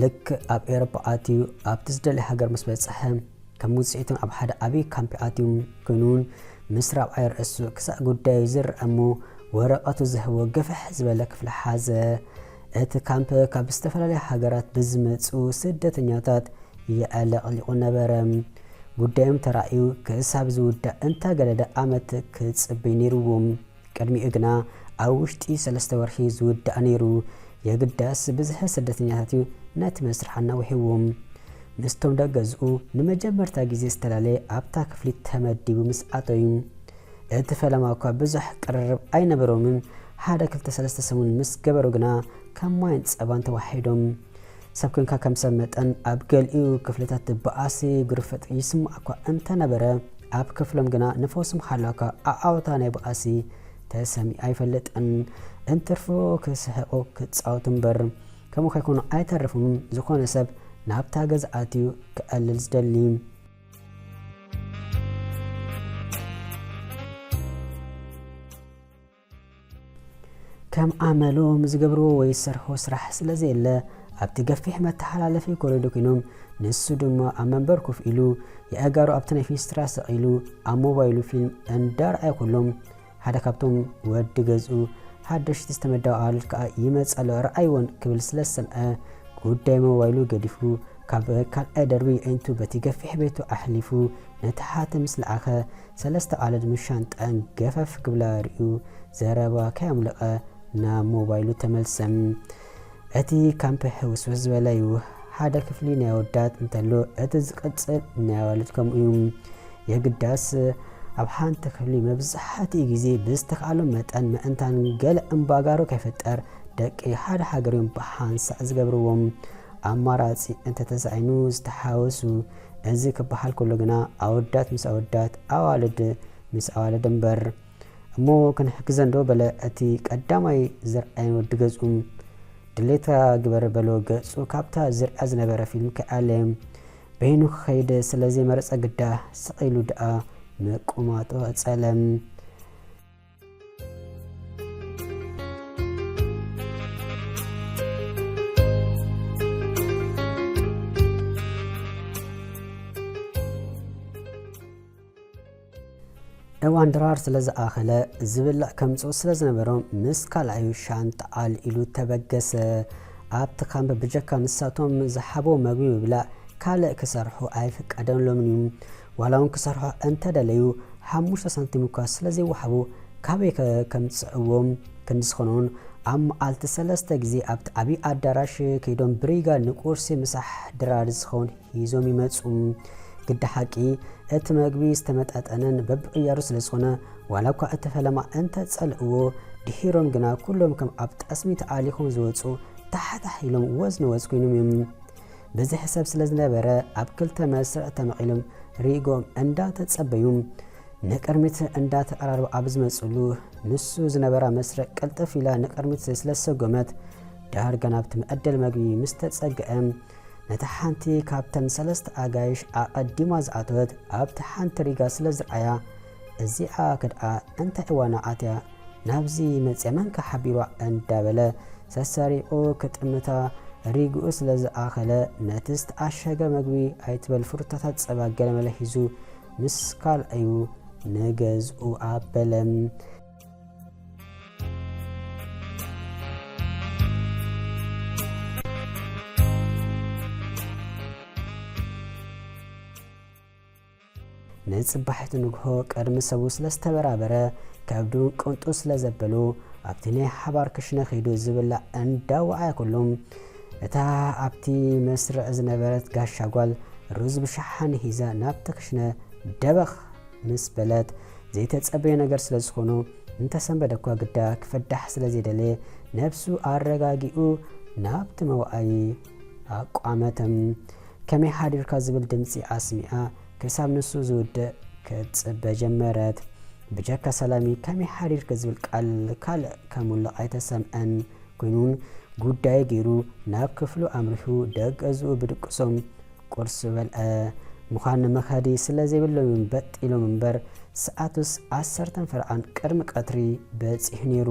ልክእ ኣብ ኤሮፓ ኣትዩ ኣብቲ ዝደልዮ ሃገር ምስ በጽሐ ከም ውጽኢቱን ኣብ ሓደ ዓብዪ ካምፒ ኣትዩ ክንውን ምስ ራብዓይ ርእሱ ክሳእ ጉዳዩ ዝርኣ እሞ ወረቐቱ ዝህቦ ገፈሕ ዝበለ ክፍሊ ሓዘ። እቲ ካምፕ ካብ ዝተፈላለዩ ሃገራት ብዝመጹ ስደተኛታት የዕለቕሊቑ ነበረ። ጉዳዮም ተራእዩ ክሳብ ዝውዳእ እንተገደደ ዓመት ክጽብይ ነይርዎም። ቅድሚኡ ግና ኣብ ውሽጢ ሰለስተ ወርሒ ዝውዳእ ነይሩ። የግዳስ ብዝሒ ስደተኛታት'ዩ ነቲ መስርሕ ኣናዊሕዎ። ምስቶም ደቅገዝኡ ንመጀመርታ ግዜ ዝተላለየ ኣብታ ክፍሊት ተመዲቡ ምስ ኣተወ'ዩ። እቲ ፈለማ'ኳ ብዙሕ ቅርርብ ኣይነበሮምን፣ ሓደ ክልተ ሰለስተ ሰሙን ምስ ገበሩ ግና ከም ማይን ጸባን ተዋሓሒዶም። ሰብ ኴንካ ከም ሰብ መጠን ኣብ ገሊኡ ክፍልታት ባእሲ ግርፍጥ ይስምዓኳ እንተ ነበረ፣ ኣብ ክፍሎም ግና ንፈውሲ ምሃላካ ኣኣውታ ናይ ባእሲ ተሰሚዑ ኣይፈልጥን። እንትርፎ ክስሕቑ ክጻወቱ እምበር ከምኡ ከይኮኑ ኣይተርፉን ዝኾነ ሰብ ናብታ ገዛ ኣትዩ ክዕልል ዝደሊ። ከም ኣመሎም ዝገብርዎ ወይ ዝሰርሕዎ ስራሕ ስለ ዘየለ ኣብቲ ገፊሕ መተሓላለፊ ኮሪዶ ኮይኖም ንሱ ድማ ኣብ መንበር ኮፍ ኢሉ የእጋሩ ኣብቲ ናይ ፊስትራ ሰቒሉ ኣብ ሞባይሉ ፊልም እንዳርኣየ ኩሎም ሓደ ካብቶም ወዲ ገዝኡ ሓደሽቲ ዝተመደባ ኣዋልድ ከኣ ይመጻሎ ረኣይዎን ክብል ስለ ዝሰምዐ ጉዳይ ሞባይሉ ገዲፉ ካብ ካልኣይ ደርቢ ኣዒንቱ በቲ ገፊሕ ቤቱ ኣሕሊፉ ነቲ ሓተ ምስ ለኣኸ ሰለስተ ኣለድ ምስ ሻንጣኣን ገፈፍ ክብላ ርእዩ ዘረባ ከየምለቐ ናብ ሞባይሉ ተመልሰ። እቲ ካምፕ ሕውስውስ ዝበለ እዩ። ሓደ ክፍሊ ናይ ኣወዳት እንተሎ እቲ ዝቕጽል ናይ ኣዋልድ ከምኡ እዩ። የግዳስ ኣብ ሓንቲ ክፍሊ መብዛሕትኡ ግዜ ብዝተኻእሎም መጠን መእንታን ገለ እምባጋሮ ከይፍጠር ደቂ ሓደ ሃገር እዮም ብሓንሳእ ዝገብርዎም። ኣማራጺ እንተተሳኢኑ ዝተሓወሱ እዚ ክበሃል ከሎ ግና ኣወዳት ምስ ኣወዳት ኣዋልድ ምስ ኣዋልድ እምበር። እሞ ክንሕግዘን ዶ በለ እቲ ቀዳማይ ዝርኣየን ወዲ ገዝኡም። ድሌትካ ግበር በሎ ገጹ ካብታ ዝሪኣ ዝነበረ ፊልም ከይኣለየ። በይኑ ክኸይድ ስለ ዘይመረጸ ግዳ ስቕ ኢሉ ደኣ ምቁማጡ ቀጸለ። እዋን ድራር ስለ ዝኣኸለ ዝብልዕ ከምፅኡ ስለ ዝነበሮም ምስ ካልኣዩ ሻንጣ ኣል ኢሉ ተበገሰ ኣብቲ ካምፕ ብጀካ ንሳቶም ዝሓቦ መግቢ ምብላዕ ካልእ ክሰርሑ ኣይፍቀደሎምን እዩ ዋላ ውን ክሰርሖ እንተ ደለዩ ሓሙሽተ ሳንቲም እኳ ስለ ዘይወሃቡ ካበይ ከ ከምጽእዎ ክንዲ ዝኾኖን ኣብ መዓልቲ ሰለስተ ግዜ ኣብቲ ዓቢ ኣዳራሽ ከይዶም ብሪጋድ ንቁርሲ ምሳሕ ድራር ዝኸውን ሂዞም ይመጹ ግደ ሓቂ እቲ መግቢ ዝተመጣጠነን በብቕያሩ ስለ ዝኾነ ዋላ እኳ እቲ ፈለማ እንተ ጸልእዎ ድሒሮም ግና ኩሎም ከም ኣብ ጠስሚ ተኣሊኾም ዝወጹ ታሕታሕ ኢሎም ወዝ ንወዝ ኮይኖም እዮም ብዝሒ ሰብ ስለ ዝነበረ ኣብ ክልተ መስርዕ ተመቒሎም ሪጎም እንዳተጸበዩ ንቅድሚት እንዳተቐራረቡ ኣብ ዝመጽሉ ንሱ ዝነበራ መስርዕ ቅልጥፍ ኢላ ንቅድሚት ስለ ዝሰጎመት ዳርጋ ናብቲ መዕደል መግቢ ምስ ተጸግዐ ነታ ሓንቲ ካብተን ሰለስተ ኣጋይሽ ኣቐዲማ ዝኣተወት ኣብቲ ሓንቲ ሪጋ ስለ ዝረኣያ እዚኣ ከድኣ እንታይ እዋና ኣትያ ናብዚ መጽያ መንከ ሓቢርዋ እንዳበለ ሰሰሪዑ ክጥምታ ሪግኡ ስለ ዝኣኸለ ነቲ ዝተኣሸገ መግቢ ኣይትበል ፍሩታታት ጸባ ገለመለ ሒዙ ምስ ካልኣዩ ንገዝኡ ኣበለ። ንጽባሒቱ ንግሆ ቅድሚ ሰቡ ስለ ዝተበራበረ ከብዱን ቅንጡ ስለ ዘበሉ ኣብቲ ናይ ሓባር ክሽነ ከይዱ ዝብላዕ እንዳ ወዓየ ኩሉ እታ ኣብቲ መስርዕ ዝነበረት ጋሻ ጓል ሩዝ ብሸሓኒ ሂዛ ናብቲ ክሽነ ደበኽ ምስ በለት ዘይተጸበዮ ነገር ስለ ዝኾኑ እንተሰንበደ እኳ ግዳ ክፈዳሕ ስለ ዘይደለየ ነብሱ ኣረጋጊኡ ናብቲ መውዓዪ ኣቋመተም ከመይ ሓዲርካ ዝብል ድምጺ ኣስሚኣ ክሳብ ንሱ ዝውድእ ክትጽበ ጀመረት። ብጀካ ሰላሚ ከመይ ሓዲርክ ዝብል ቃል ካልእ ከምሉ ኣይተሰምዐን። ኮይኑውን ጉዳይ ገይሩ ናብ ክፍሉ ኣምሪሑ ደገዝኡ ብድቅሶም ቁርሲ በልዐ። ምዃን መካዲ ስለ ዘይብሎም በጥ ኢሎም እምበር ሰዓቱስ ዓሰርተን ፈረቓን ቅድሚ ቀትሪ በጺሑ ነይሩ።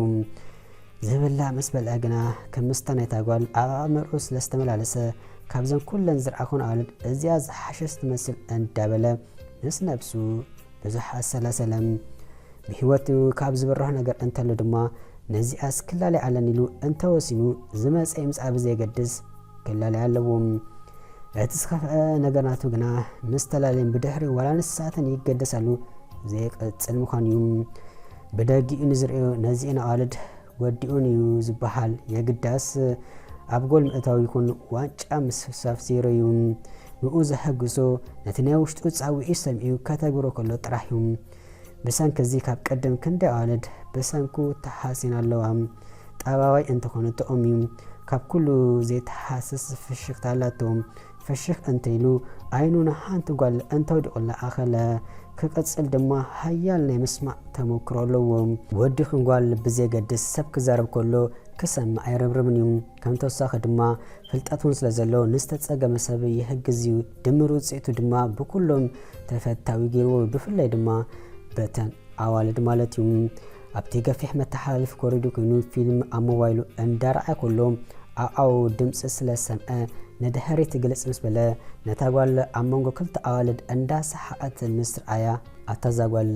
ዝብላ ምስ በልዐ ግና ከም ምስታ ናይታ ጓል ኣብ ኣእምርኡ ስለ ዝተመላለሰ ካብዘን ኩለን ዝርኣኹን ኣዋልድ እዚኣ ዝሓሸት ትመስል እንዳበለ ምስ ነብሱ ብዙሕ ኣሰላሰለ። ብህይወቱ ካብ ዝበርሆ ነገር እንተሎ ድማ ነዚኣስ ክላለያ ኣለኒ ኢሉ እንተወሲኑ ዝመጸ ይምጻእ ብዘየገድስ ክላለያ ኣለዎ። እቲ ዝኸፍአ ነገር ናቱ ግና ምስ ተላለየን ብድሕሪ ዋላ ንሳተን ይገደሳሉ ዘይቅጽል ምዃኑ እዩ። ብደጊኡ ንዝርእዮ ነዚኤን ኣዋልድ ወዲኡን እዩ ዝበሃል። የግዳስ ኣብ ጎል ምእታው ይኹን ዋንጫ ምስፍሳፍ ዜሮ እዩ። ንኡ ዘሐግሶ ነቲ ናይ ውሽጡ ጻውዒት ሰሚዑ ከተግብሮ ከሎ ጥራሕ እዩ። ብሰንኪ እዚ ካብ ቅድም ክንደይ ኣዋልድ ብሰንኩ ተሓሲን ኣለዋ። ጣባዋይ እንተኾነ ተኦምዩ ካብ ኩሉ ዘይትሃስስ ፍሽኽታ ኣላቶ ፍሽኽ እንተኢሉ ኣይኑ ንሓንቲ ጓል እንተውዲቑላ ኣኸለ ክቕጽል ድማ ሃያል ናይ ምስማዕ ተመክሮ ኣለዎ። ወዲ ይኹን ጓል ብዘየገድስ ሰብ ክዛረብ ከሎ ክሰምዕ ኣይርብርብንዩ። ከም ተወሳኺ ድማ ፍልጠትውን ስለዘሎ ንዝተጸገመ ሰብ ይሕግዝዩ። ድምር ውጽኢቱ ድማ ብኩሎም ተፈታዊ ገይርዎ ብፍላይ ድማ በተን ኣዋልድ ማለትዩ። ኣብቲ ገፊሕ መተሓላለፊ ኮሪዱ ኮይኑ ፊልም ኣብ ሞባይሉ እንዳረኣየ ኩሉ ኣኣው ድምፂ ስለ ሰምዐ ንድሕሪት ግልፅ ምስ በለ ነታ ጓል ኣብ መንጎ ክልተ ኣዋልድ እንዳሰሓቐት ምስ ረኣያ ኣታ እዛ ጓል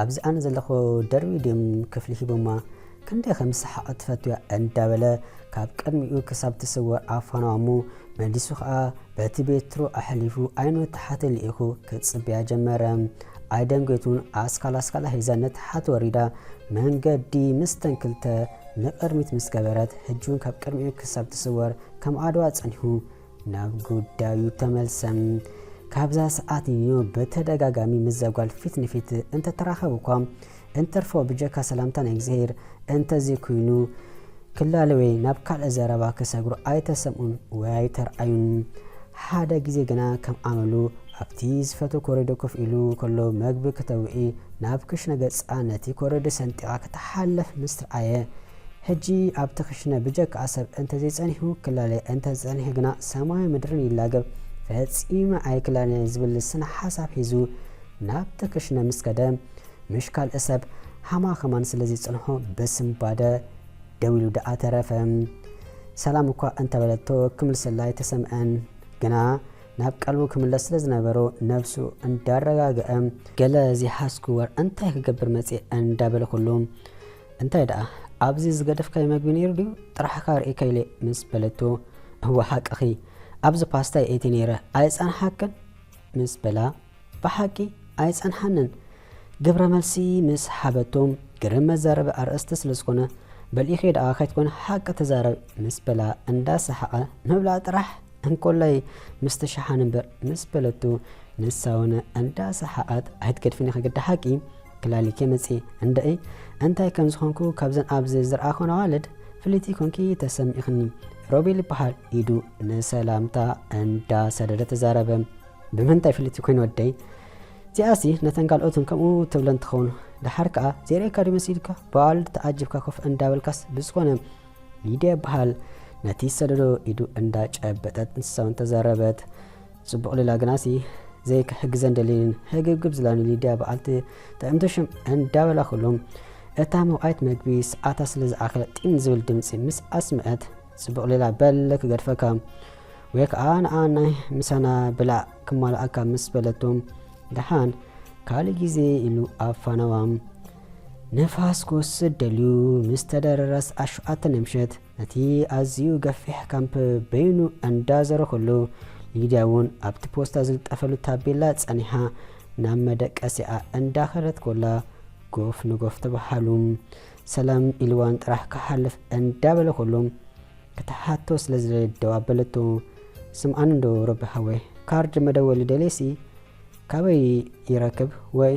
ኣብዚ ኣነ ዘለኹ ደርቢ ድዮም ክፍሊ ሂቦማ ክንደይ ከም ሰሓቐት ትፈትውያ እንዳበለ ካብ ቅድሚኡ ክሳብ ትስወር ኣፋናዋሙ መሊሱ ከዓ በቲ ቤትሮ ኣሕሊፉ ኣይኖ ተሓተ ልኢኹ ክጽበያ ጀመረ። ኣይደንገቱን ኣስካል ኣስካላ ሒዛ ንተሓተ ወሪዳ መንገዲ ምስተን ክልተ ንቕድሚት ምስ ገበረት ሕጂውን ካብ ቅድሚኡ ክሳብ ትስወር ከም ኣድዋ ጸኒሑ ናብ ጉዳዩ ተመልሰ። ካብዛ ሰዓት ንዮ በተደጋጋሚ ምስዛ ጓል ፊት ንፊት እንተተራኸቡኳ እንትርፎ ብጀካ ሰላምታ ናይ እግዚሄር እንተዘይ ኩይኑ ክላለ ወይ ናብ ካልእ ዘረባ ክሰግሩ ኣይተሰምኡን ወይ ኣይተርኣዩን። ሓደ ግዜ ግና ከም ኣመሉ ኣብቲ ዝፈትዎ ኮሪዶ ኮፍ ኢሉ ከሎ መግቢ ክተውኢ ናብ ክሽነ ገጻ ነቲ ኮሪዶ ሰንጢቓ ክትሓልፍ ምስ ረኣየ ሕጂ ኣብቲ ክሽነ ብጀካኣ ሰብ እንተዘይ ጸኒሑ ክላለ እንተዝጸኒሐ ግና ሰማይ ምድርን ይላገብ ፈጺመ ኣይክላለን ዝብል ስነ ሓሳብ ሒዙ ናብቲ ክሽነ ምስ ከደ ምሽ ካልእ ሰብ ሃማ ከማን ስለ ዝጽንሖ በስንባደ ደዊሉ ደኣ ተረፈ ሰላም እኳ እንተበለቶ ክምልሰላ ኣይተሰምዐን ግና ናብ ቀልቡ ክምለስ ስለ ዝነበሮ ነብሱ እንዳረጋገዐ ገለ ዘይሓዝኩ ወር እንታይ ክገብር መጽየ እንዳበለ ኩሉ እንታይ ደኣ ኣብዚ ዝገደፍካዮ መግቢ ነይሩ ድዩ ጥራሕካ ርኢካ ኢለ ምስ በለቶ እወ ሓቅኺ ኣብዚ ፓስታ የእቲ ነይረ ኣይጸንሓክን ምስ በላ ብሓቂ ኣይጸንሓንን ግብረ መልሲ ምስ ሃበቶ ግርም መዛረቢ ኣርእስቲ ስለ ዝኮነ በሊኪ ደኣ ከይትኮን ሓቂ ተዛረብ ምስ በላ እንዳ ሰሓቀ ምብላዕ ጥራሕ እንኮላይ ምስቲ ሸሓኒ እምበር ምስ በለቶ ንሳውነ እንዳ ሰሓቀት ኣይትገድፍን ኢኪ ግዲ ሓቂ ክላሊኬ መጺ እንደኢ እንታይ ከም ዝኮንኩ ካብዘን ኣብዚ ዝርኣኮ ነዋልድ ፍልይቲ ኮንኪ ተሰሚዕክኒ ሮቤል ይበሃል ኢዱ ንሰላምታ እንዳ ሰደደ ተዛረበ ብምንታይ ፍልጥቲ ኮይነ ወደይ እዚኣሲ ነተን ካልኦትን ከምኡ ትብለን ትኸውን ድሓር ከዓ ዘይርእካ ዶ መሲልካ በዓል ተዓጅብካ ኮፍ እንዳበልካስ ብዝኾነ ሊድያ ይበሃል ነቲ ሰደዶ ኢዱ እንዳጨበጠት ንሳውን ተዛረበት ፅቡቕ ሌላ ግናሲ ዘይክሕግዘን ደሊልን ሕግብግብ ዝላኒ ሊድያ በዓልቲ ጥዕምቲ ሽም እንዳበላ ኩሎም እታ መውዓይት መግቢ ሰዓታ ስለ ዝኣኸለ ጢን ዝብል ድምፂ ምስ ኣስምዐት ጽቡቅ ሌላ በል ክገድፈካ ወይ ከኣ ንኣ ናይ ምሳና ብላ ክማልኣካ ምስ በለቶ ደሓን ካልእ ግዜ ኢሉ ኣብ ፋናዋ ነፋስ ክወስድ ደልዩ ምስ ተደረረስ ኣሸዓተ ንምሸት ነቲ ኣዝዩ ገፊሕ ካምፕ በይኑ እንዳዘረ ከሎ ሊድያ እውን ኣብቲ ፖስታ ዝልጠፈሉ ታቤላ ጸኒሓ ናብ መደቀሲኣ እንዳኸደት ኮላ ጎፍ ንጎፍ ተባሃሉ። ሰላም ኢልዋን ጥራሕ ክሓልፍ እንዳበለ ኩሉ ክትሓቶ ስለ ዝደለየት ደው ኣበለቶ። ስምዓኒ እንዶ ሮቢ ሓወይ ካርድ መደወሊ ደልየሲ ካበይ ይረክብ ወይ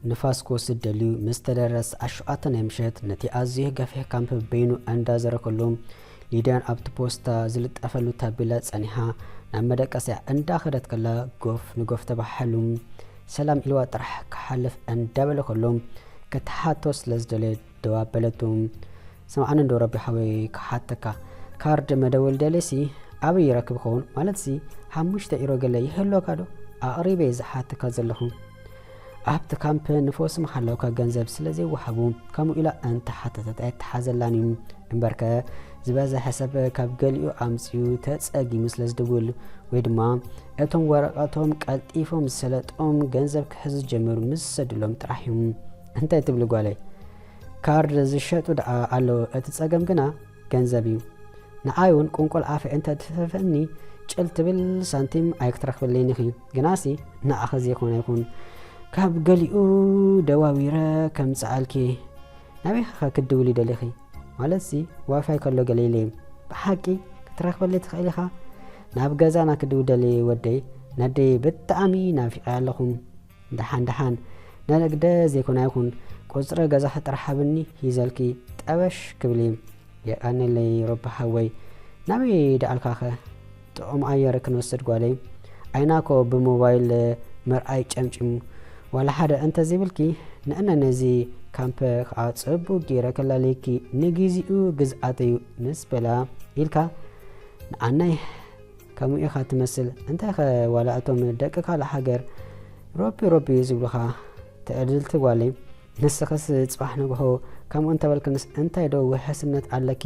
ንፋስ ክወስድ ደልዩ ምስ ተደረስ ኣሽዓተ ናይ ምሸት ነቲ ኣዝዩ ገፊሕ ካምፕ በይኑ ኣንዳ ዘረከሉ ሊድያን ኣብቲ ፖስታ ዝልጠፈሉ ታቤላ ጸኒሓ ናብ መደቀስያ እንዳ ከደት ከላ ጎፍ ንጎፍ ተባሓሉ ሰላም ኢልዋ ጥራሕ ክሓልፍ እንዳበለ ከሎ ክትሓቶ ስለ ዝደለየት ደው ኣበለቱ። ስምዓኒ እንዶ ረቢ ሓወይ ክሓተካ ካርድ መደወሊ ደልየሲ ኣበይ ይረክብ ይኸውን ማለትሲ ሓሙሽተ ኢሮ ገለ ይህልወካ ዶ ኣቕሪበ ዝሓተካ ዘለኹ ኣብቲ ካምፕ ንፈውሲ ምሓለውካ ገንዘብ ስለ ዘይወሃቡ ከምኡ ኢላ እንተሓተተት ኣይተሓዘላን እዩ እምበርከ ዝበዝሐ ሰብ ካብ ገሊኡ ኣምፅኡ ተፀጊሙ ስለ ዝድውል ወይ ድማ እቶም ወረቐቶም ቀልጢፎም ዝሰለጦም ገንዘብ ክሕዙ ዝጀመሩ ምስ ዝሰድሎም ጥራሕ እዩ እንታይ ትብሊ ጓለይ ካርድ ዝሸጡ ደኣ ኣለዉ እቲ ጸገም ግና ገንዘብ እዩ ንዓይ ውን ቁንቁል ኣፈ እንተ ትተርፈኒ ጭል ትብል ሳንቲም ኣይክትረክብልይን ኢኺ ግናሲ ንኣኺ ዘይኮነ ይኹን ካብ ገሊኡ ደዋዊረ ከምጽኣልኪ ናበይ ኸ ክትድውሊ ደሊኺ ማለትሲ ዋይፋይ ከሎ ገለይለይ ብሓቂ ክትረኽበለይ ትኽእል ኢኻ ናብ ገዛና ክድውደሊ ወደይ ነደይ ብጣዕሚ ናፊቐ ኣለኹም ደሓን ደሓን ነነግደ ዘይኮና ይኹን ቁጽሪ ገዛኺ ጥራሕ ሃብኒ ሂዘልኪ ጠበሽ ክብል እዪ። የቀንየለይ ሮቢ ሓወይ ናበይ ደኣልካኸ ጥዑም ኣየር ክንወስድ ጓለይ ዓይናኮ ብሞባይል ምርኣይ ጨምጪሙ ዋላ ሓደ እንተዘይብልኪ ንእነ ነዚ ካምፐ ከዓ ፅቡቅ ጌረ ከላለይኪ ንግዚኡ ግዝኣተዩ ምስ በላ ኢልካ ንኣናይ ከምኡ ኢኻ ትመስል እንታይኸ ዋላ እቶም ደቂ ካልእ ሃገር ሮቢ ሮቢ ዝብሉኻ ትዕድልቲ ጓለይ ንስኽስ ጽባሕ ንግሆ ከምኡ እንተበልክንስ እንታይ ዶ ውሕስነት ኣለኪ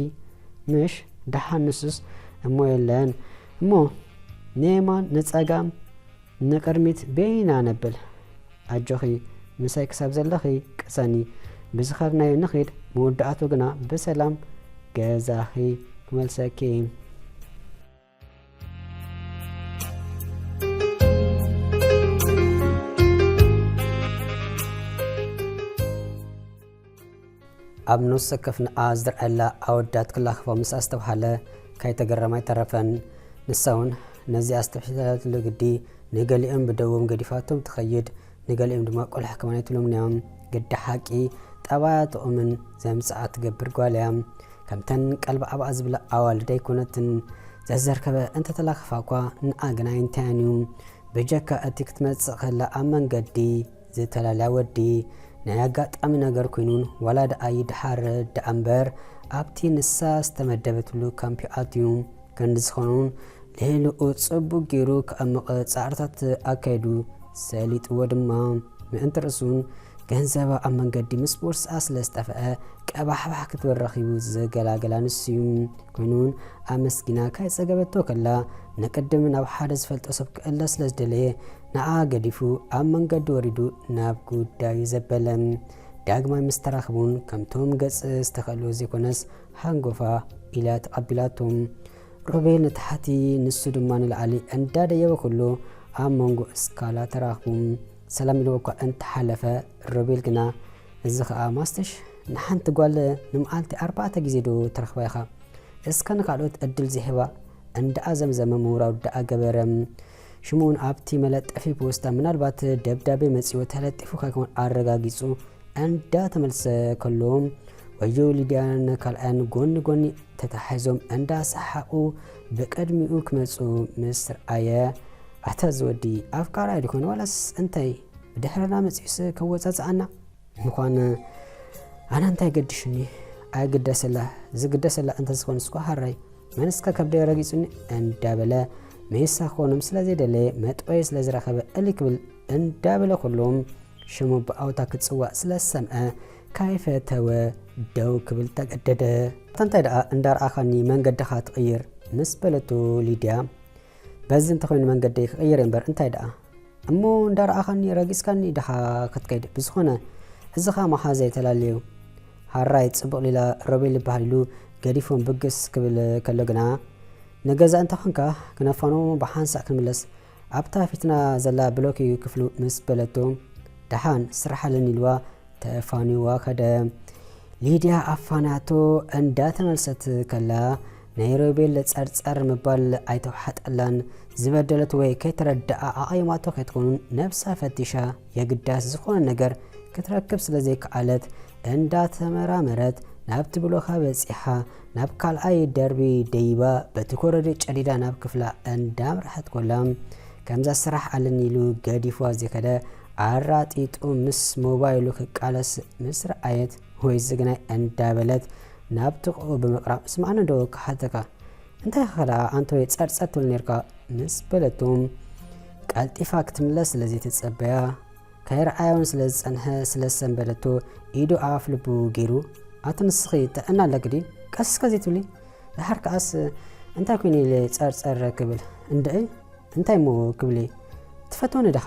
ምሽ ደሓን ንሱስ እሞ የለን እሞ ንየማን ንጸጋም ንቅድሚት በይና ነብል ኣጆኺ ምሳይ ክሳብ ዘለኺ ቅሰኒ ብዝኸድናዮ ንኺድ መወዳኣቱ ግና ብሰላም ገዛኺ ክመልሰኪ። ኣብ ነፍሰከፍንኣ ዝርኣየላ ኣወዳት ክላኽፎ ምስ ኣስተብሃለ ካይተገረመ ኣይተረፈን። ንሳውን ነዚኣ ዝተፈሸለትሉ ግዲ ንገሊኦም ብደዎም ገዲፋቶም ትኸይድ ንገሊኦም ድማ ቆልሕ ከማን ኣይትብሎምንዮም። ግዲ ሓቂ ጠባያቶኦምን ዘምጽኣ ትገብር ጓልያ። ከምተን ቀልቢ ኣብኣ ዝብላ ኣዋልድ ኣይኮነትን። ዘዘርከበ እንተተላኽፋኳ ንኣ ግን ኣይንታያንዩ። ብጀካ እቲ ክትመጽእ ከላ ኣብ መንገዲ። ዝተላላየ ወዲ ናይ ኣጋጣሚ ነገር ኮይኑን ዋላ ደኣ ይድሓር ደኣ እምበር ኣብቲ ንሳ ዝተመደበትሉ ካምፒ ኣትዩ ክንዲ ዝኾኑን ልህልኡ ጽቡቅ ገይሩ ከዕምቕ ጻዕርታት ኣካይዱ ሰሊጥዎ ድማ ምእንቲ ርእሱን ገንዘባ ኣብ መንገዲ ምስ ቦርስኣ ስለ ዝጠፍአ ቀባሕባሕ ክትብል ረኺቡ ዝገላገላ ንሱ እዩ ኮይኑን ኣመስጊና ካይጸገበቶ ከላ ንቅድም ናብ ሓደ ዝፈልጦ ሰብ ክእለ ስለ ዝደለየ ንዓ ገዲፉ ኣብ መንገዲ ወሪዱ ናብ ጉዳዩ ዘበለ። ዳግማይ ምስ ተራኽቡን ከምቶም ገጽ ዝተኸእልዎ ዘይኮነስ ሃንጎፋ ኢላ ተቐቢላቶ። ሮቤል ንታሕቲ ንሱ ድማ ንላዕሊ እንዳደየበ ኩሉ ኣብ መንጎ እስካላ ተራኽቡ። ሰላም ኢልዎ እኳ እንተሓለፈ ሮቤል ግና እዚ ኸኣ ማስተሽ ንሓንቲ ጓል ንመዓልቲ ኣርባዕተ ግዜ ዶ ትረኽባ ኢኻ እስካ ንካልኦት ዕድል ዘይህባ እንዳኣዘምዘመ ምውራዱ ደኣ ገበረ። ሽሙውን ኣብቲ መለጠፊ ፖስታ ምናልባት ደብዳቤ መጺዎ ተለጢፉ ከይኮን ኣረጋጊጹ እንዳ ተመልሰ ከሎ ወዮ ሊድያን ካልኣያን ጎኒ ጎኒ ተታሒዞም እንዳ ሰሓቑ ብቅድሚኡ ክመጹ ምስ ረኣየ ኣታ ዝወዲ ኣፍቃራይ ድኾነ ዋላስ እንታይ ብድሕረና መጺኡስ ከወጻጽኣና እንኳን ኣነ እንታይ ገድሽኒ ኣይግደሰላ ዝግደሰላ እንተዝኾንስ እኳ ሃራይ መንስከ ከብደይ ረጊጹኒ እንዳበለ መይሳ ክኾኖም ስለ ዘይደለየ መጥበዩ ስለ ዝረኸበ እሊ ክብል እንዳበለ ኩሉም ሽሙ ብኣውታ ክጽዋእ ስለ ዝሰምዐ ካይፈተወ ደው ክብል ተገደደ እንታይ ደኣ እንዳረኣኻኒ መንገድኻ ትቕይር ምስ በለቱ ሊድያ በዚ እንተኾይኑ መንገደይ ክቕይር እምበር እንታይ ደኣ እሞ እንዳረኣኻኒ ረጊጽካኒ ድኻ ክትከይድ ብዝኾነ እዝኻ መሓዘይ ተላለዩ ሃራይ ጽቡቕ ሊላ ሮቤል ይበሃል ኢሉ ገዲፎም ብግስ ክብል ከሎ ግና ንገዛ እንተኾንካ ክነፋኑ ብሓንሳእ ክንምለስ ኣብታ ፊትና ዘላ ብሎክ እዩ ክፍሉ ምስ በለቶ ደሓን ስራሕ ኣለኒ ኢልዋ ተፋንዋ ከደ ሊድያ ኣፋናቶ እንዳተመልሰት ከላ ናይ ሮቤል ጸርጸር ምባል ኣይተውሓጠላን ዝበደለት ወይ ከይተረደኣ ኣቐይማቶ ከይትከውን ነብሳ ፈቲሻ የግዳስ ዝኾነ ነገር ክትረክብ ስለ ዘይከኣለት እንዳተመራመረት ናብቲ ብሎካ በጺሓ ናብ ካልኣይ ደርቢ ደይባ በቲ ኮረድዮ ጨዲዳ ናብ ክፍላ እንዳምርሐት ኮላ ከምዛ ስራሕ ኣለኒ ኢሉ ገዲፍዋ ዝከደ ኣራጢጡ ምስ ሞባይሉ ክቃለስ ምስ ረኣየት ወይ ስግናይ እንዳበለት ናብ ጥቕኡ ብምቕራብ ስምዓኒ ዶ ክሓተካ እንታይ ኢኻ ደኣ ኣንተወይ ጸርጸር ትብል ኔርካ ምስ በለቶ ቀልጢፋ ክትምለስ ስለ ዘይተጸበያ ከይርኣዮን ስለ ዝጸንሐ ስለ ዝሰንበደቶ ኢዱ ኣፍ ልቡ ገይሩ ኣቲ ንስኺ ጥዕና ኣለኪ ድዩ ቀስ ከዚ ትብሊ ድሓር ከኣስ እንታይ ኮይኑ ኢለ ጸርጸር ክብል እንደይ እንታይ እሞ ክብሊ ትፈትወኒ ድኻ